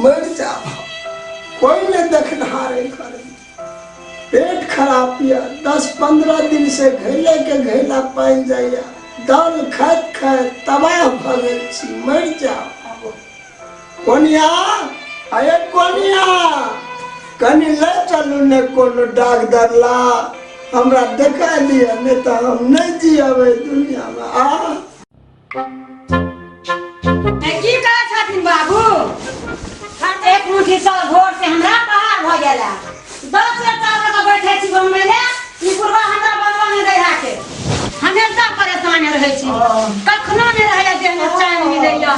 मरि जाब कोई ने देखनहारे करे पेट खराब यऽ दस पंद्रह दिन से घैले के घैला पानि जाइया दाल खाइत खाइत तबाह भऽ गेल छी मरि जाब कोनिया अरे कोनिया कनी ले चलू ने कोनो डाक दरला हमरा देखा दिया नहीं तो हम नहीं जियब एहि दुनिया में आ ए, की करै छथिन बाबू हर एक मुट्ठी चाउर भोर से हमरा बहार भऽ गेला दस बेर चावल का बैठे छी बनबै ले ई बुढ़वा हमरा बनबऽ नहि दै है के हमेशा परेशान रहै छी कखनो नहि रहैया देह में चैन मिलैया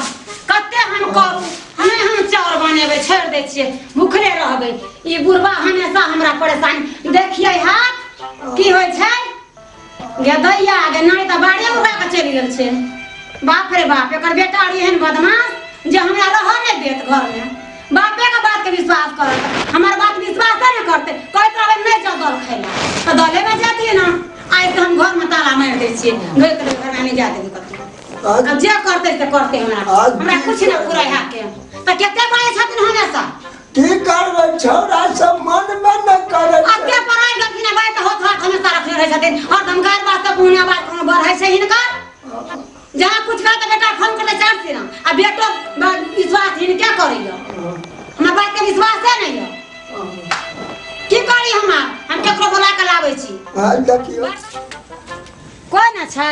कते हम करू नहि हम चाउर बनेबै छोड़ि दै छियै भूखले रहबै ई बुढ़वा हमेशा हमरा परेशान देखियै हाथ की होइ छै गे दैया गे नारी तऽ बाड़े उड़ा कऽ चलि गेल छै बाप रे बाप एकर बेटा रही एहन बदमाश जे हमरा रहऽ नहि देत घरमे बापेके बातके विश्वास करत हमर बात विश्वासे नहि करतै कहैत रहबै नहि जाउ दल खाय लए तऽ दलेमे जातियै ने आइ तऽ हम घरमे ताला मारि दै छियै घरके लेल घरमे नहि जा देबै कतहु आब जे करतै से करतै हमरा हमरा किछु नहि पूरा हैके तऽ कतेक बाजै छथिन हमेशा की करबै छौड़ा सब मन में न करे अब के पराय गलती ना बाय त होत होत हमेशा रखले रहे छथिन और धमकार बात त पुण्य बात कोनो बर है से हिनकर जहाँ कुछ कर त बेटा फोन कर चार से ना आ बेटो ब- विश्वास हिन क्या करी हो हमरा बात के विश्वास है नहीं हो की करी हम आब? हम केकरो बोला के लाबै छी हाल देखियो कोई ना छै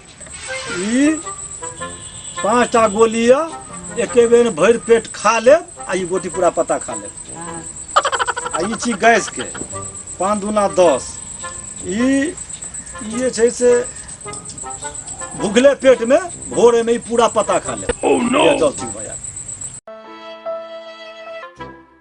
ई पाँचटा गोली यऽ एके बेर भरि पेट खा लेब आ ई गोटी पूरा पत्ता खा लेब आ ई छी गैसके पाँच दूना दस ई ई जे छै से भुखले पेटमे भोरेमे ई पूरा पत्ता खा लेब oh, no! जल सिंह भैया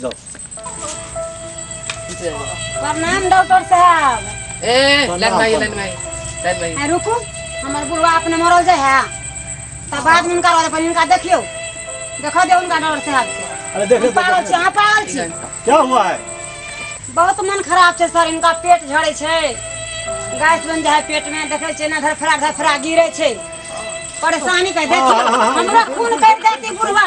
जाओ प्रणाम डॉक्टर साहब ए लाइन में आइए, लाइन में आइए, लाइन में आइए। आ, रुकू हमर बुढ़वा अपने मरल जाय है तब बाद में उनका रहल पहिले उनका देखियो देखो दे उनका डॉक्टर साहब के अरे देख हम पागल छी अहाँ पागल छी क्या हुआ है बहुत मन खराब छै सर इनका पेट झड़े छै गैस बन जाए पेट में देखे छै ना धरफड़ा धरफड़ा गिरे छै परेशानी कह देखियो हमरा खून कटि जाती बुढ़वा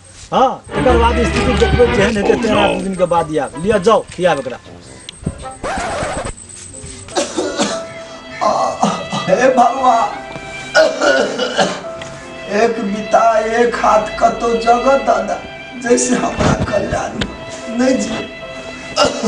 हाँ एक बाद स्थिति देखो जेहन हेतै तेहन आठ दिन के बाद आयब लिअ जाओ खियाब एकरा हे भगवा एक बिता एक हाथ कतो जगह दादा जैसे हमरा कल्याण नहीं जी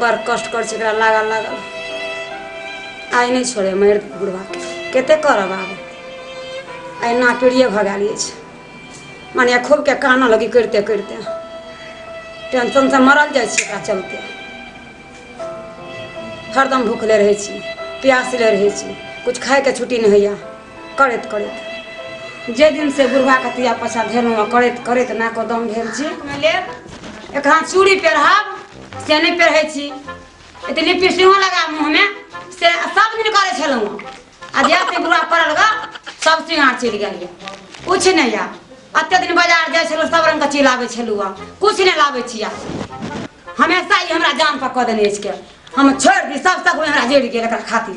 बड़ कष्ट करै छै एकरा लागल लागल आइ नहि छोड़े मरि बुढ़वा कते करब आब अहिना पीड़िए भऽ गेल अछि माने खूबके कानऽ लगी करिते करिते टेंशनसँ मरल जाइ छी एकरा चलते हरदम भूखले रहै छी प्यासले रहै छी किछु खायके छुट्टी नहि होइए करैत करैत जे दिन से बुढ़वा कतिया पछा धेलहुँ करैत करैत नाको दम भेल छी लेब एक हाथ चूड़ी पेढ़ब से नहि पेढ़ै छी एते लिपस्टिको लगा मुँहमे से सब दिन करै छलहुँ आ जे से बुढ़वा पड़ल गा सब सिंगार चलि गेल किछु नहि यऽ एते दिन बाजार जाइ छलहुँ सब रङ्गके चीज लाबै छलहुँ किछु नहि लाबै छी हमेशा ई हमरा जान पर कऽ देने अछि के हम छोड़ि दी सब सब हमरा जरि गेल एकरा खातिर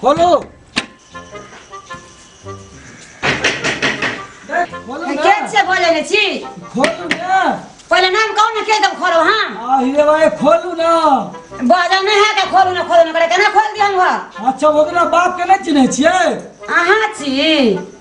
खोलो खोलो ना। केन से बोले ने छी खोलू ना पहिले नाम कहू ने के दब खोलो हां आ हीरे भाई खोलू ना बाजा नहीं है के खोलू ना खोलू ना करे केना खोल दी हम घर अच्छा ओकरा बाप के नहीं चिन्है छियै अहाँ छी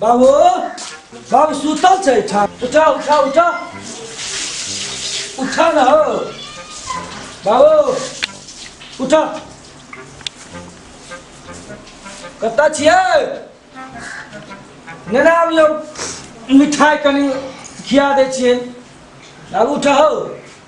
बाबू बाबू सुतल छै ठा उठा उठा उठा उठा न हो बाबू उठा कतऽ छियै नेने आबियौ मिठाइ कनि खिया दै छियै बाबू उठा हो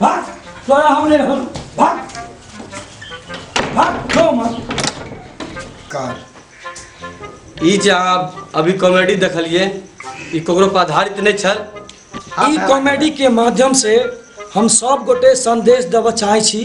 भाग तोरा हम नहीं रहल भाग भाग लो मत कार ई जे अहाँ अभी कॉमेडी देखलिए ई ककरो पर आधारित नहीं छल ई कॉमेडी के माध्यम से हम सब गोटे संदेश देबऽ चाहै छी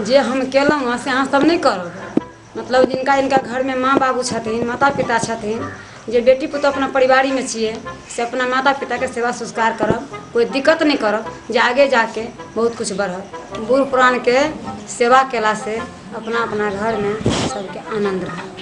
जे हम केलहुँ हँ से अहाँ सब नहि करब मतलब जिनका जिनका घरमे माँ बाबू छथिन माता पिता छथिन जे बेटी पुतहु अपना परिवारीमे छियै से अपना माता पिताके सेवा संस्कार करब कोइ दिक्कत नहि करब जे आगे जाके बहुत किछु बढ़त बूढ़ पुरानके सेवा कयलासँ अपना अपना घरमे सभके आनन्द रहत